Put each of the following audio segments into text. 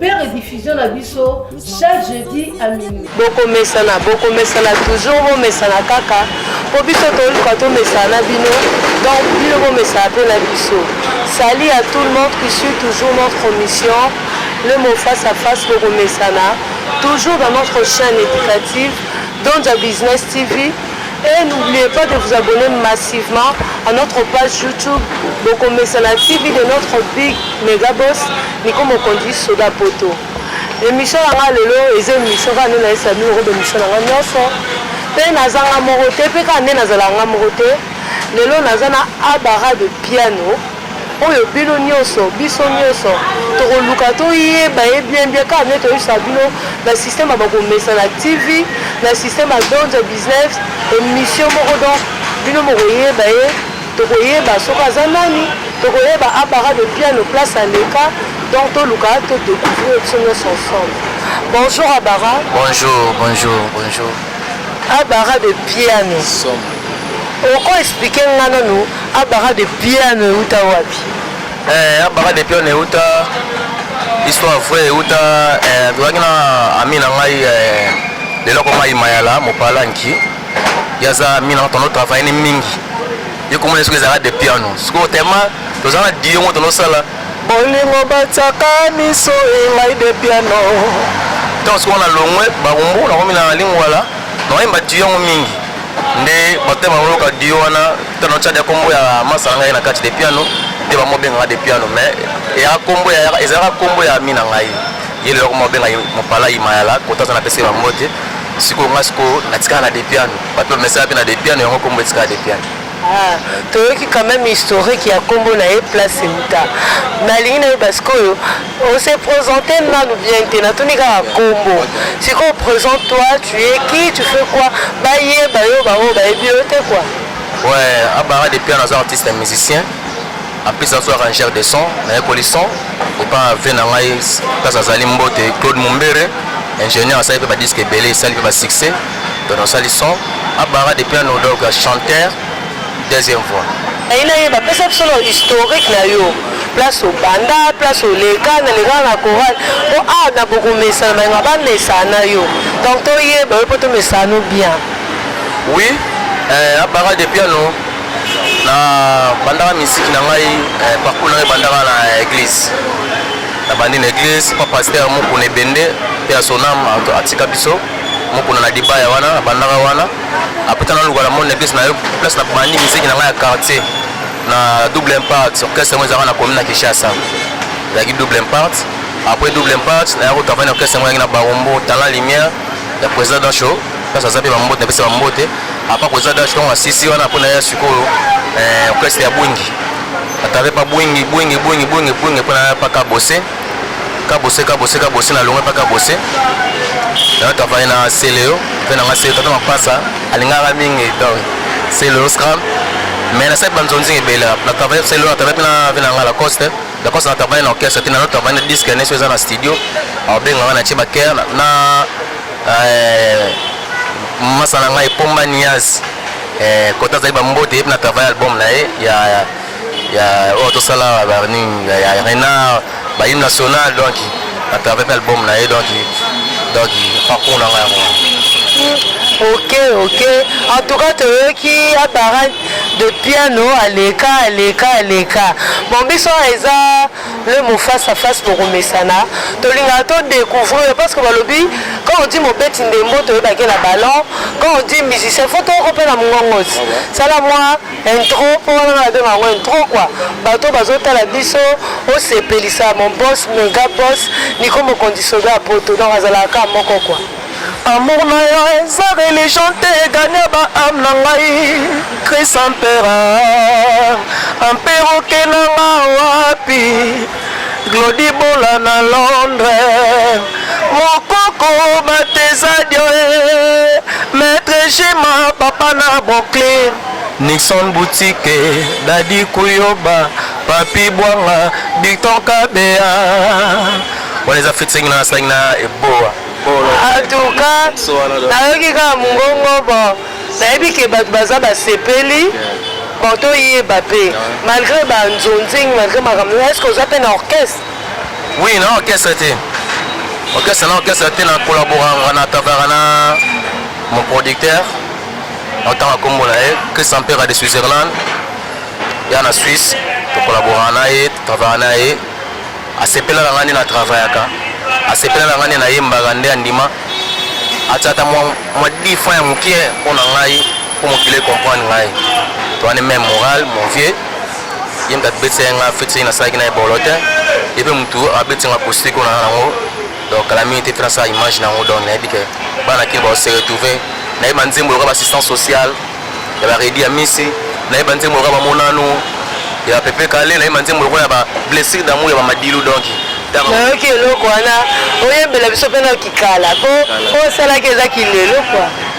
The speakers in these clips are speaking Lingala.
Père diffusion na biso chaque jeudi à minuit. Bokomesana, bokomesana toujours bomesana kaka po biso toluka tomesana na bino donc bino bomesana mpe na biso. Salut à tout le monde qui suit toujours notre mission le mot face à face bokomesana toujours dans notre chaîne éducative Donja Business TV et n'oubliez pas de vous abonner massivement à notre page YouTube Bokomesana TV de notre big méga boss Nico mokonzi soda poto emission na nga lelo eza emission kaka nde nayesa bino koba emission na nga nyonso mpe naza nga moko te mpe kaka nde nazalaka nga moko te lelo naza na abara de piano oyo bino nyonso biso nyonso tokoluka toyeba ye bien bien kaka nde toyebisa bino na système ya bakomesa na tv na système ya donze business emission moko donc bino mokoyeba ye Toko yeba soki aza nani. Toko yeba a para de piano place aleka donc to luka to decouvrir biso nionso ensemble. Bonjour a bara. Bonjour bonjour bonjour. A bara de piano. Somo. Oko expliquer nga nanu a bara de piano ewuta wapi? Eh a bara de piano ewuta histoire vraie ewuta eh tozalaki na ami na ngai eh lelo akoma imayala mopala nki yaza mina tono travailler ni mingi yo komona soki ezalaka de piano sikoyo tellement toza na dio moko tolosala bolingo batiaka miso engai de piano ntango sikoyo na longwe bakumbu nakomi na lingwala nakoyemba dio yango mingi nde bato te bakoyoka dio wana to na tyade ya nkombo ya masa na ngai na kati de piano nde bamobengaka de piano mais eyaka nkombo ezalaka nkombo ya mi na ngai ye lelo komobenga mopalai mayala kotaza na pese bambote sikoyo ngai sikoyo natikala na de piano Bato bamesaka mpe na Depiano, yango kombo etikala Depiano. Ah, toyoki quand même historique ya kombo na ye place euta nalingi nayeba sikoyo ose présente nanu bien te natuni kaka kombo sikoyo présente toi tu es qui tu fais quoi bayeba yo bango bayebi yo te quoi ouais abara depuis un aza artiste musicien en plus azo arrangeur de son nayekoli son epa ve na ngai place azali mbote claude mombere ingénieur asali mpe badisque ebele esali mpe basuccès Don asali son a barra de piano donc chanteur deuxième voix. Nalingi nayeba pesa biso nanu historique na yo place obanda place oleka na lekaka na chorale po awa na bokomesana balinga ba mesana na yo donc toyeba yo po tomesana no bien. Oui eh, a barra de piano na bandaka misiki na ngai eh, parcours na ngai bandaka na eglise na bandi na eglise pa pasteur mukuna ebende pe ya sonam atika biso mokona na libaya wana nabandaka wana apres tana luka na monde eglise na yo place na bandi miziki na ngai ya quartier na double impact orchestre yango ezalaka na commune na kinshasa ezalaki double impact après double impact naya kotravaille na orchestre yango yaki na barombo talent lumière ya président dancho place aza mpe bambote napesa bambote apa koza dancho ntango asisi wana mpo naya sikoyo eh, orchestre ya bwingi atave pa bwingi bwingi bwingi bwingi bwingi mpo naya paka bose kabose kabose kabose na longa pa kabose na travaille na celeo mpe nanga celeo tata mapasa alingaka mingi donc celeo scram mais na saki banzonzi ebele na travaille celeo na travaille mpe na ve nanga lacoste lacoste na travaille na orchestre te nano travaille na disque neso eza na studio abengaka na tie baker na euh, masa na ngai pomba nias kota euh, azali bambote ye mpe na travaille album na ye ya ya oyo tosala barning ya renard bahime national donc atrave mpe album na ye donc donc parcours na ngai yango ok ok en tout cas toyoki abara de piano aleka aleka aleka bon biso eza le mot face à face bokomesana tolingaka todécouvrir parce que balobi quand on dit mobeti ndembo toyebaki na ballon quand on dit musicien fo toyoko mpe na mongongosi sala mwa Intro po wana nga nabenga yango intro quoi bato bazotala biso osepelisa mon boss mega boss Nico Mokonzi soda ya poto donc azalaka kaka moko quoi Amour na yo eza religion te egania ba ame na ngai Chris Ampera Ampera oke na nga wapi Glody Bola na Londres Mokoko Batezadio eh, Maître Jima papa na Brooklyn Nixon boutique, Daddy Kuyoba, Papi Bwanga, Victor Kabeya. Wana eza featuring na asalaki na Eboa. Atuka nayoki kaka mongongo bo nayebi ke bato baza basepeli bon toyeba mpe malgré banzonzing malgré makambo est ce que oza mpe na orchestre oui na orchestre te orchestre na orchestre te na collaboranga na tavara na mon producteur Otanga kombo na ye Christian Pera de Switzerland ya na Suisse tokolaboraka na ye travaillaka na ye asepelaka ngai nde na travaillaka asepelaka ngai nde nayembaka nde andima atia ata mwa mwa difra ya moke mpo na ngai mpo mokili ekomprendre ngai toani meme moral mon vieux ye moto abetisa ye ngai feti nasalaki na ye bolo te ye mpe motu abeti ngai kosiko na yango donc kala mingi te tuna sala image na yango donc nayebi ke bana kini bao se retrouver nayebi banzembo loka baassistance sociale ya baredi ya misi nayebi banzembo loka bamonano ya pepe kale nayebi banzembo lokola ya bablessure d'amour ya bamadilu donc nayoki eloko wana oyembela biso mpe na kikala mpo osalaki eza kilelo kua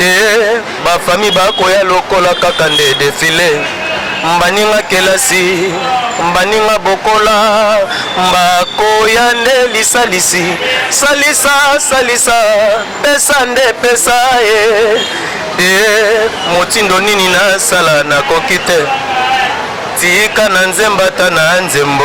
Eeh ba famille ba koya lokola kaka nde defile Mbaninga kelasi mbaninga bokola Mba koya nde lisalisi Salisa salisa pesa nde pesa eh Eeh motindo nini na sala na koki te Tika na nzemba ata na nzembo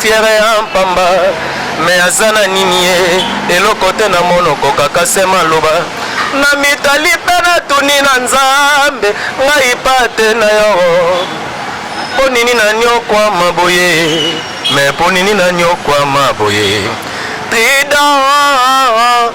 Fiere ya pamba mais aza na nini ye eloko te na monoko kaka se maloba na mitali pe na tuni na nzambe ngai pate na yo po nini na nyokwama boye mais po nini na nyokwama boye trident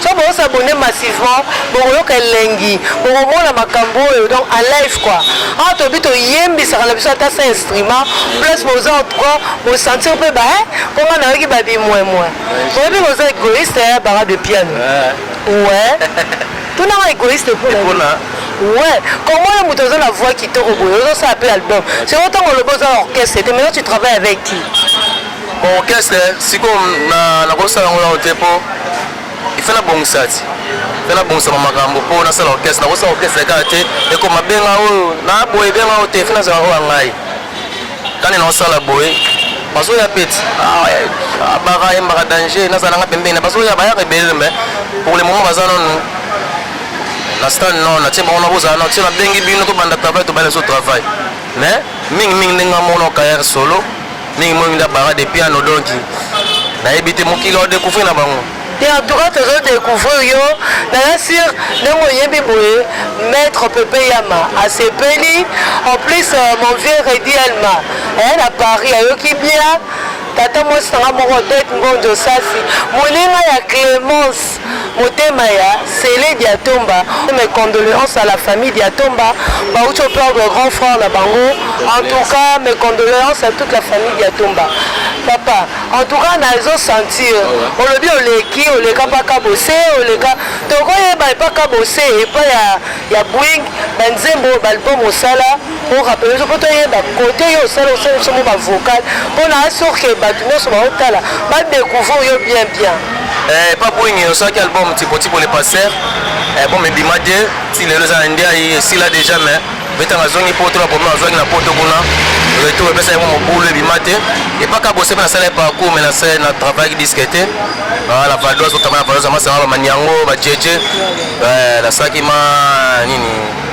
Soki bo s'abonner massivement, bokoyoka elengi, bokomona makambo oyo donc en live quoi. Awa tobi toyembisaka na biso ata sans instrument, plus boza en tout cas bo sentir pe ba hein, po nga nayoki ba bimwemwe. Oyebi que oza egoïste hein Bara de Piano. Ouais. Tuna nga egoïste po na nini? Ouais, comment le moto oza na voix kitoko boye, ozo sala pe album. Sikoyo tango olobi oza na orchestre te, maintenant tu travailles avec qui? Bon orchestre siko na na kosala yango nao te po il faut na bongisa ti pe na bongisa makambo po na sala orchestre na kosala orchestre kaka te ekoma benga oyo na boye benga oyo te fe na zala oyo ngai kani na osala boye bazo ya peti ah, ah, baka yembaka danger na zala nga pembeni na bazo ya ba ya rebelle mais pour le moment baza nonu na stand non na tie bango na bozala na tie na bengi bino to banda travail to bana so travail mais mingi mingi ndenge amono carrière solo Mingi moi minda bara de piano donc nayebi te mokili o découvrir na bango. Et en tout cas tozo découvrir yo naya sur ndenge oyebi boye maître Pepe Yama asepeli en plus euh, mon vieux Reddy Elma eh, na Paris ayoki bien tata mwasi nanga moko Odette Ngonjo Sasi moninga ya Clemence Motema ya Cele Diatomba, mes condoleances à la famille Diatomba, bauti au perdre grand frère na bango. En tout cas, mes condoleances à toute la famille Diatomba. Papa, en tout cas nazo sentir olobi oleki oleka pa kabose oleka tokoyeba epa kabose epa ya ya Boeing banzembo balbum osala o rappeler biso mpo toyeba kote yo osala osala biso mwa bavocal mpo na asure ke bato nyonso baotala badecouvrir yo bien bien eh, pa bwenge osalaki album tipotipo le passer album eh, ebima te ti lelo eza na ndiayi esila déjà mais betanga azongi poto na problème azwaki na poto kuna retour epesa yango mobulu ebima te epaka bose mpe nasala parcours me nasala na travaillaki diske te na vadoise otama na vadoise amasanga bamaniango bajeje nasalaki ma nini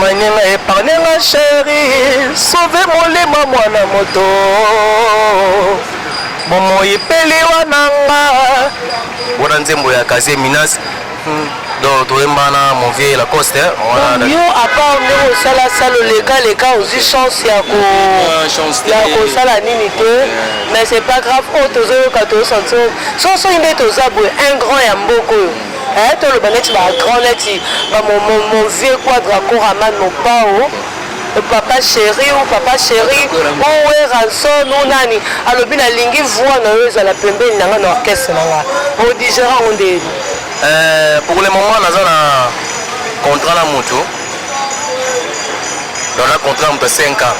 Maninga epargne nga cheri sauve molimo mwana moto bomoi mpe liwa na nga wana nzembo ya kaze minas donc toyemba na mon vieux lacoste wana yo apart nde osala sala oleka leka ozwi chance ya ko Ah, chance te. ya kosala nini te mais c'est pas grave oyo tozoyoka tozosanti soki nde toza boye un grand ya mboka oyo Eh toloba neti ba grand neti ba mon, mon, mon vieux quadra coraman mopao papa chéri ou papa chéri ou eranson ou nani alobi nalingi voix na yo ezala pembeni na nga na orchestre na nga odigera yango nde yebi Euh, pour le moment naza na contrat na moto donc na contrat na moto ya 5 ans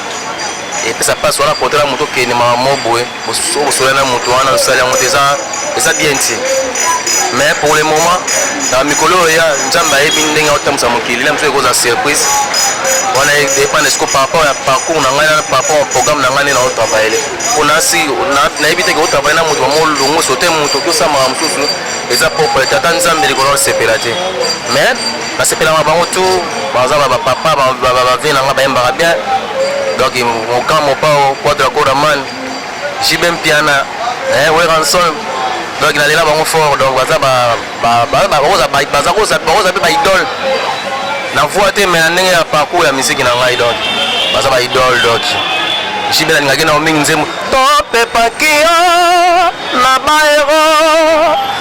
epesa mpasi wana contrat na moto okende mama mo boye okosola na moto wana osali yango te eza bien ti mais pour le moment na mikolo oyo ya nzambe ayebi ndenge aotambwisa mokili na mosusu ekoza surprise wana edepende siko par rapport ya parcours na ngai na par rapport ya programme na ngai nde naotravaille mpo nasi nayebi te keotravaille na moto bamolongo sote moto tosamaka mosusu eza propre tata nzambe likolo asepela te mais Na sepelaka bango tout, baza ba papa ba ba vie na nga bayembaka bien. Donc Moka Mopao, Quadra Koraman, JB Mpiana, eh, Weranson. Donc na lela bango fort donc baza ba ba ba ba baza ba baza koza baza pe ba idole. Na voix te mais na ndenge ya parcours ya musique na ngai donc baza ba idole donc. JB na ngaki na mingi nzembo. To pe pakia na baero.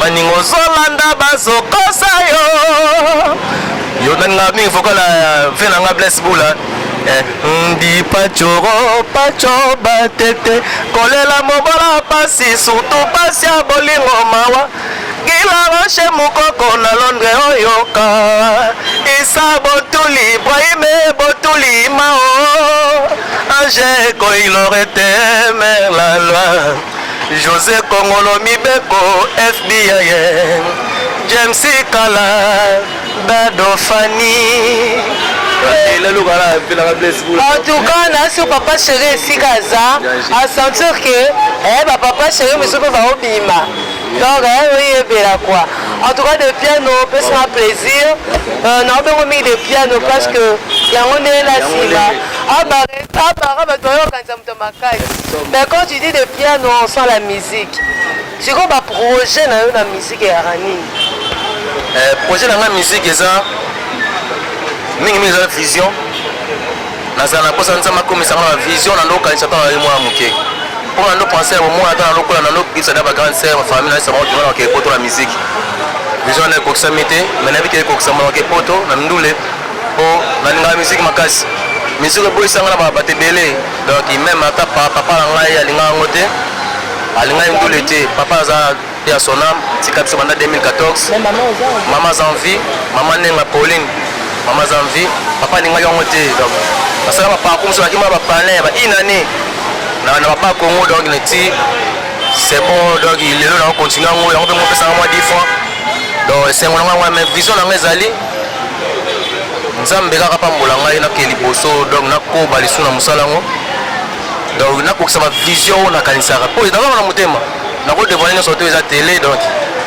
baninga ozolanda bazokosa yo yo nani nga mingi fokola ve na nga blaise bula ndi pacoro paco batete kolela mobola pasi surtout pasi ya bolingo mawa gilaroshe mokoko na londre oyoka isa botuli ibrahime botuli mao ange koilorete mer la loi Jose Kongolo Mibeko FBI James Kala Dado Fani en tout cas nasi papa chéri esika aza asentir ke eh, bapapa chéri mosusu mpe baobima donc eh, oyebela kua en tout cas de piano opesaka plaisir euh, naobengo mingi de piano parce que yango ndenge na nsima abara bato bayokanisa Somo makasi. Mais quand tu dis de piano on sent la musique. Siko ba projet na yo na musique ya ranini? Eh, projet na nga musique eza mingi mingi eza vision. Nazala na posa nzama komisa nga vision na ndoka nisa tana mwa muke. Pour na ndo penser au moins ata na lokola na ndo kisa da ba grande sœur, ma famille na sa mwa kima na ke poto la musique. Vision na kokisa mite, mais na bike kokisa mwa ke poto na ndule. po nalingaka musique makasi musique eboyisa nga na ba bato ebele donc meme ata pa- papa na ngai alingaka yango te alingaki ndule te papa aza pe ya sonam tika biso banda 2014 Mais maman oza en- mama aza en vie mama nenga pauline mama aza en vie papa alingaki yango te donc basala baparcour mosusu bakima bapalin ba une année na na papa congo donc neti c'est bon donc lelo nako continue yango yango mpe mopesanga mwa dix francs donc esengo na ngai yango mais vision na ngai ezali Nzambe kaka pambola ngai na ke liboso donc na ko balisu na musala ngo donc na kokisa ba vision ona kanisaka po na na mutema na ko devoir nyoso to eza tele donc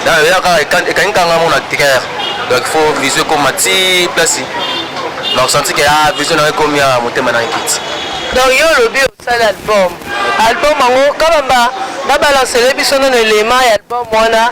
na ya kaka ekangi kanga mona ticker donc faut vision ko mati place na senti ke ah vision na ko mia mutema na kiti donc yo lobi osala album album ngo kabamba na balancele biso na elema ya album wana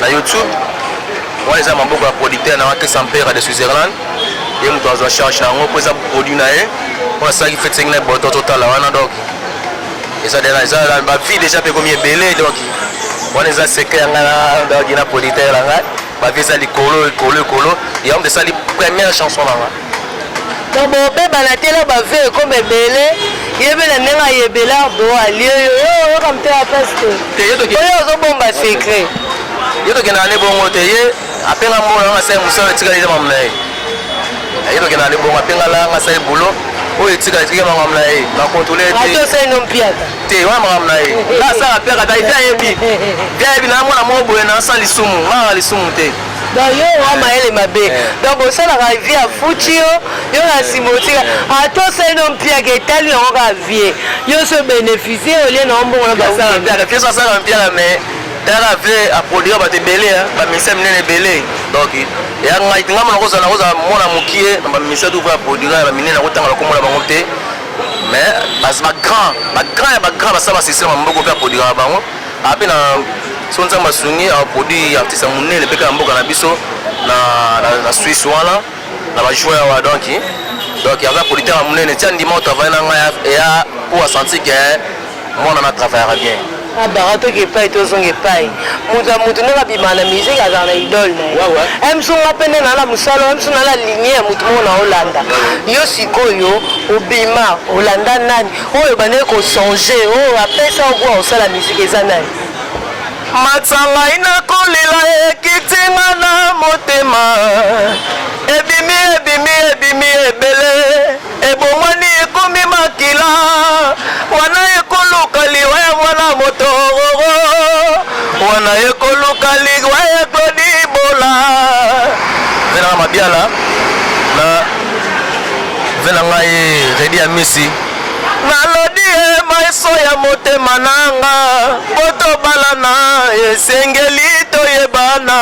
na youtube wana eza maboko ya producteur na wake sampera de switzerland ye moto azwa charge na yango mpo eza produit na ye mpo asalaki fetisenge na boto totala wana donc eza dena eza bavie déjà mpe ekomi ebele donc wana eza secret ya ngai na donc na producteur na ngai bavie eza likolo likolo likolo yango moto esali première chanson na ngai donc bobeba na tela ba vie ekoma ebele yebe na ndenge ayebela bo alie yo yo oyoka motema mpasi te oyo ozobomba secret ye tokenda na ne bongo te ye apenga mbola nga sai mosala etikali eza mamu na ye ye tokenda na ne bongo apenga la nga sai bulo oyo etika etiki ya makambo na ye bakontrole te wana makambo na ye nga asala mpiaka ta ete ayebi te ayebi na mwana moko boye na asala lisumu nga lisumu te donc yo oa mayele mabe eh. donc bosalaka vie ya futi yo yo na nsima otika eh. ata osali no mpiaka etali yango kaka vie yo so bénéficie olie na ombongo na basala mpiaka fie soasala mpiaka mais tala vie aproduire bato ebele bamisa minene ebele donc ya ngai nga mona kozala kozala mwana mokie na bamisa tu va aproduire ya baminene akotanga bakomola bango te mais bagrand bagrand ya bagrand basala basisteme ya maboko mpe aproduire bango ape na so nzambe asungi aproduit artiste ya monene mpe kaka mboka na biso na suisse wana na bajoueur wa donc donc aza producteur ya monene ti andima oyo travaille na ngai eya mpo asentir ke mwana na travaillaka bien abara ah, toke epai tozonga epai moto ya moto ndenge abima na musike azala na idole na ye mso nga mpe nde nala mosala mso nala linie ya moto moko na olanda yo sikoyo obima olanda nani Oyo obandaki ko songer oyo apesa yo gout ya kosala musique eza nani? Matsa ngai nako lela ekiti nga na motema Ebimi ebimi ebimi ebele ebongwani ekomi makila Wana eko luka liwa ya mwana moto roro Wana eko luka liwa ya Claude Ibola Ngai nanga mabiala na Ve na ngai Redi ya Misi. Nalodi ye maiso ya motema nanga po tobalana esengeli toyebana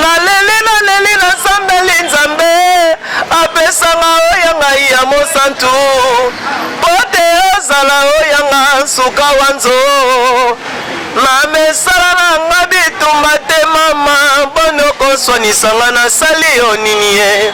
naleli naleli nasambeli nzambe apesanga oya ngai ya mosantu po te ozala oya nga nsuka wanzo na mesala na nga bitumba te mama boni okoswanisa nga nasali yo nini ye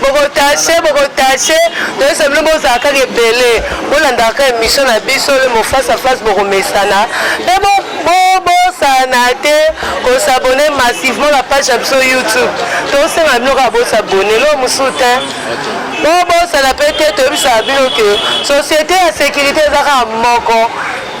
Boko tache boko tache toyesa bino bozala kaka ebele bolandaka kaka emission na biso le mo face à face bokomesana mpe bobosana te kosabone massivement na page ya biso youtube tosenga bino kaka bosabone lo mosusu te bobosana mpe te toyebisaka bino ke société ya sécurité eza kaka moko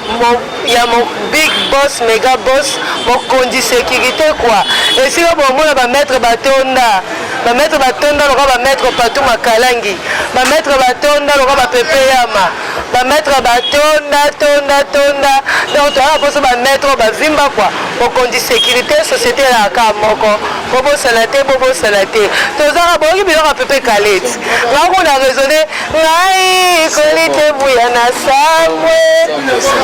Mon, ya mon big boss mega boss mokonzi securite quoi esika bomona ba maître batonda ba maître batonda lokola ba maître patou makalangi ba maître batonda lokola ba pepe yama ba maître batonda tonda tonda donc toyaka mposo ba maître oyo bavimba quoi mokonzi securite société elaka kaka moko bobosana te bobosana te tozaka boyoki biloko ya pepe kaleti ngai kuna raisonne Ngai koli te buya na sambwe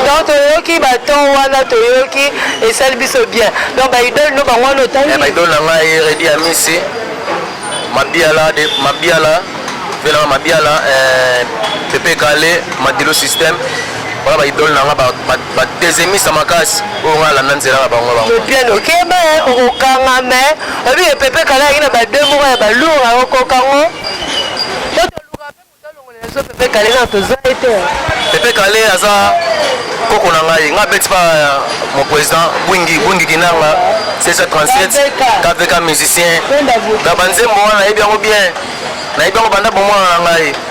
donc toyoki baton wana toyoki esali biso bien donc baidole no bango wana otangi eh, baidole na ngai redi ya misi mabiala de mabiala velanga mabiala eh, pepe kale madilo système wana baidole na ngai Ba dezemisa makasi oyo nga landa nzela na bango bango. Mopiana okeba eh, okokanga me oyebi ke Pepe Kale ayaki na ba deux moko ya ba lourd akokoka ngo. Po toluka pe moto alongola biso Pepe Kale nanu tozwa ye te. Pepe Kale aza koko na ngai nga beti pa mon président Bwingi Bwingi Kinanga 1637 KVK musicien na ba nzembo wana nayebi yango bien nayebi yango banda bomwana na ngai.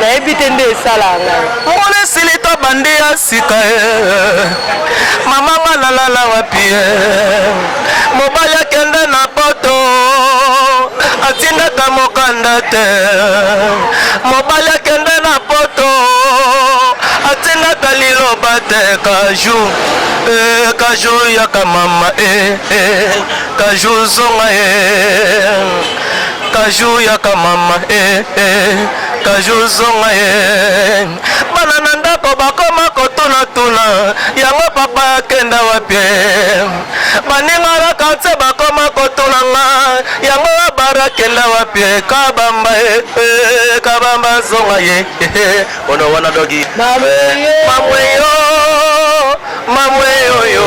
nayebi te nde esala ngai mona silita bande ya sika eh. mama nga nalala wapi eh. mobali akende na poto atindaka mokanda te mobali akende na poto atindaka liloba te kaju eh, kaju yaka mama eh, eh, kaju zonga eh. Kajou yaka mama eh eh Kajou zonga eh Bana na ndako bakoma kotuna tuna Yango papa akenda wapi eh Baninga na kanse bakoma kotuna nga Yango abara akenda wapi eh Kabamba eh eh Kabamba zonga eh eh Ono wana dogi Mamwe yo Mamwe yo yo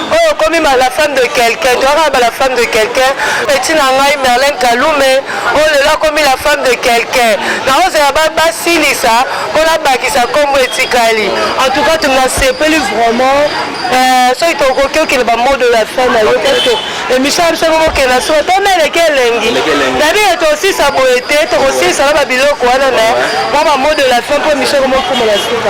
oyo okomi ma la femme de quelqu'un toyaka ba la femme de quelqu'un petit na ngai merlin kalume oyo lelo akomi la femme de quelqu'un nakozela basilisa mpo nabakisa nkombo etikali en tout cas tunasepeli vraiment euh, soki tokoki okende bamodo ya fin na yo parceke emission ya biso kokenda soko tona eleki elengi dabika tosisa boye te tokosilisa na babiloko wana me mwa bamodo ya fin mpo emission komokoma na suka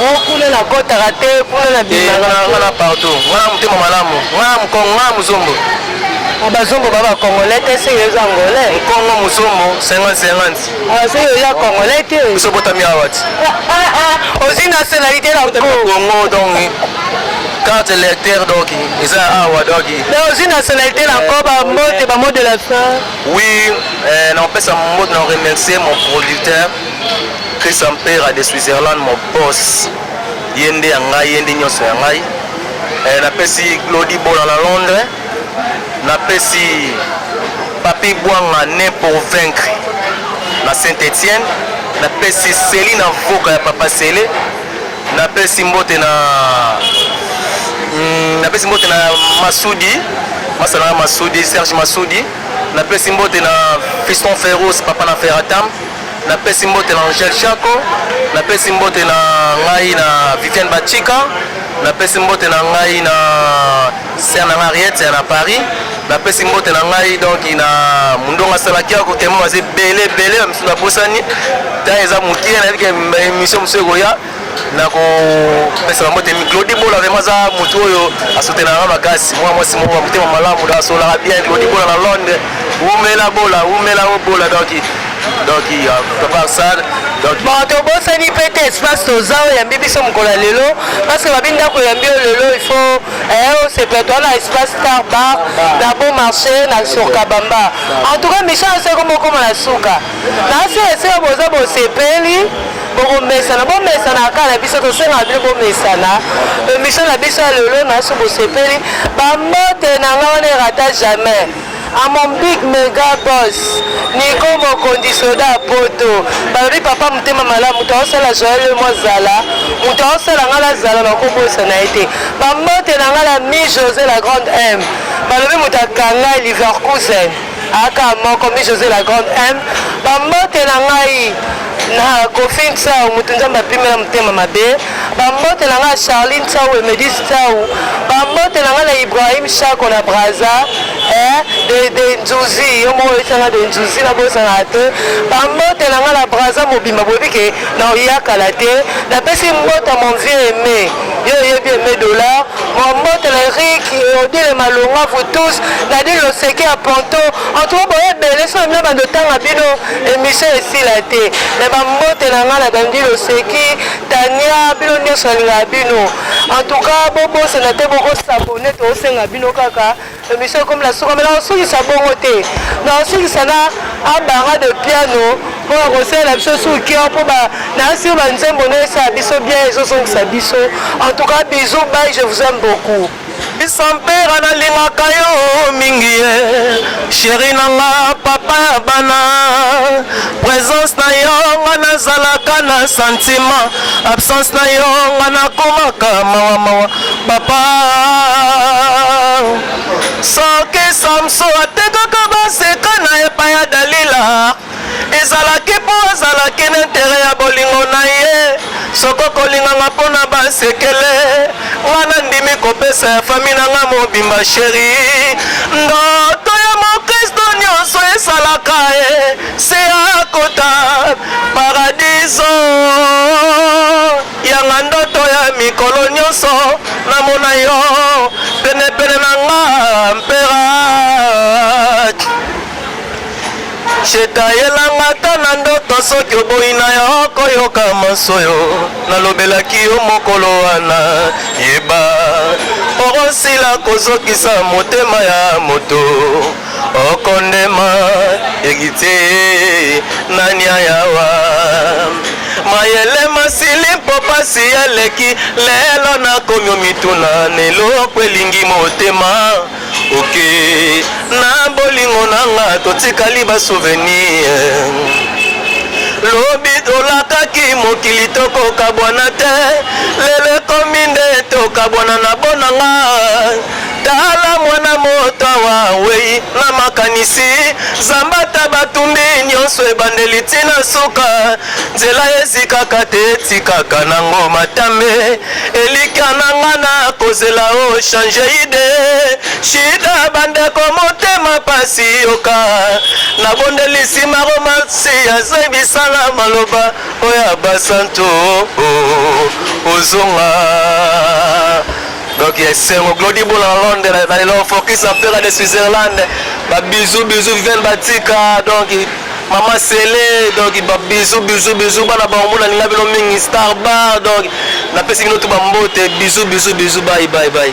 Oh kuna na kotaka te kuna na bimaka eh, kuna partout nga na motema malamu nga na mokongo nga na mozombo ah, bazombo ba bacongolais te soki oza angolais nkongo mozombo 5050 ah, soki oza congolais te biso botami awa ti ozwi nationalité na kongo donc carte électeur donc eza awa donc ozwi nationalité na nko bambote bamot de la fin oui eh, naopesa mot na remercier mon producteur Christian Mpera de Switzerland mon boss ye nde ya ngai ye nde nyonso ya ngai eh, napesi Glody Bola na Londres napesi Papi Bwanga ne pour vaincre na Saint-Etienne napesi Celine Avoka ya Papa Sele napesi mbote na mm, napesi mbote na Masudi masala na Masudi Serge Masudi napesi mbote na Fiston Ferros papa na Ferratam Na pesi mbote na Angel Shako, na pesi mbote na ngai na Viviane Bachika, na pesi mbote na ngai na sœur na Mariette ya na Paris, na pesi mbote na ngai donc na Mundonga Salakia ko temo aze bele bele misusu na bosani. Ta eza mukie na yebike emission mususu ekoya. nakopesa bango te claudi bola vraimen aza motu oyo asotenaka makasi mwa mwasi moko ya motema malamu da asolaka bien claudi bola na londres wumela bola wumela o bola donc donc papa arsal bon tobosani mpe te espace toza oyambi biso mokolo ya lelo parceke babi ndako oyambi yo lelo il faut eh, osepela toa na espace star bar na bon marché na sur kabamba en tout cas mission ya seko mokoma na suka naasele seko boza bosepeli bokomesana bomesana kaka na biso tosengaka bino bomesana emission na biso ya lelo na so bosepeli bambote na nga wana erata jamais à mon big mega boss niko mokonzi soda ya poto balobi papa motema malamu moto aosala joel yo mozala moto aosala ngai nazala nakobosana ye te bambote na ngai la mi josé la grande m balobi moto akanga liverkusen Aka moko mi Jose la grande M ba mbote na ngai na Kofi Nsau moto nzambe apimela motema mabe ba mbote na ngai Charlie Nsau Emedi Nsau ba mbote na ngai na Ibrahim Shako na Brazza eh de de Nzuzi yo moko oyesanga de Nzuzi na bosana te ba mbote na ngai na Brazza mobimba boyebi ke na oyakala te napesi mbote mon vieux Aimé yo oyebi Aimé dollar Mbote na Eric et Odile Malonga vous tous Nadine Loseke ya Ponto en tout cas boye ebele soki na bando tanga bino émission esila te mais ba mbote na ngai na Dandi Loseki Tania bino nyonso nalingaka bino en tout cas bobosana te bokosabone tosenga bino kaka Emission ekomi na suka, mais nakosukisa bongo te, nakosukisa na abara de piano mpo na kosalela biso sur cœur mpo nayasi ba nzembo nde esala biso bien, ezozongisa biso. En tout cas, bisous, bye, je vous aime beaucoup. bisampera nalingaka yo mingi ye sheri na nga papa ya bana presence na yo nga nazalaka na sentiment absence na yo nga nakomaka mawamawa Papa soki Samso atekaka baseka na epai ya Dalila ezalaki mpo azalaki na intere ya bolingo na ye soko kolinganga mpo na basekele nga nandimi kopesa ya fami na nga mobimba sheri ndoto ya mokristo nyonso esalaka ye se akota paradiso Yanga ndoto ya mikolo nionso na mona yo pene pene na nga mpera chetayelanga ata na ndoto soki oboyi na yo koyoka masoyo nalobelaki yo mokolo wana yeba okosila kozokisa motema ya moto okondema egite nani ayawa mayele masili mpo pasi eleki lelo nakomi omituna na eloko elingi motema oke na bolingo na nga totikali basouvenir lobi tolakaki mokili tokokabwana te lelo ekomi nde tokabwana na bonanga Tala mwana moto awa awei na makanisi zambata batumbi nyonso ebandeli ntina suka nzela ezikaka te etikaka nango matambe elikya na nga na kozela o oh, change ide shida bandeko motema pasi yoka nabondeli nsima romansi azebisala maloba oyo ya basantu oh, oh, ozonga Donc ya esengo Glody Bola na Londres na lelo focus na Pera de Switzerland ba bisous bisous Viviane Batika donc Maman Sele donc ba bisous bisous bisous bana ba omona linga bino mingi star bar donc na pesi bino tout ba mbote bisous bisous bisous bye bye bye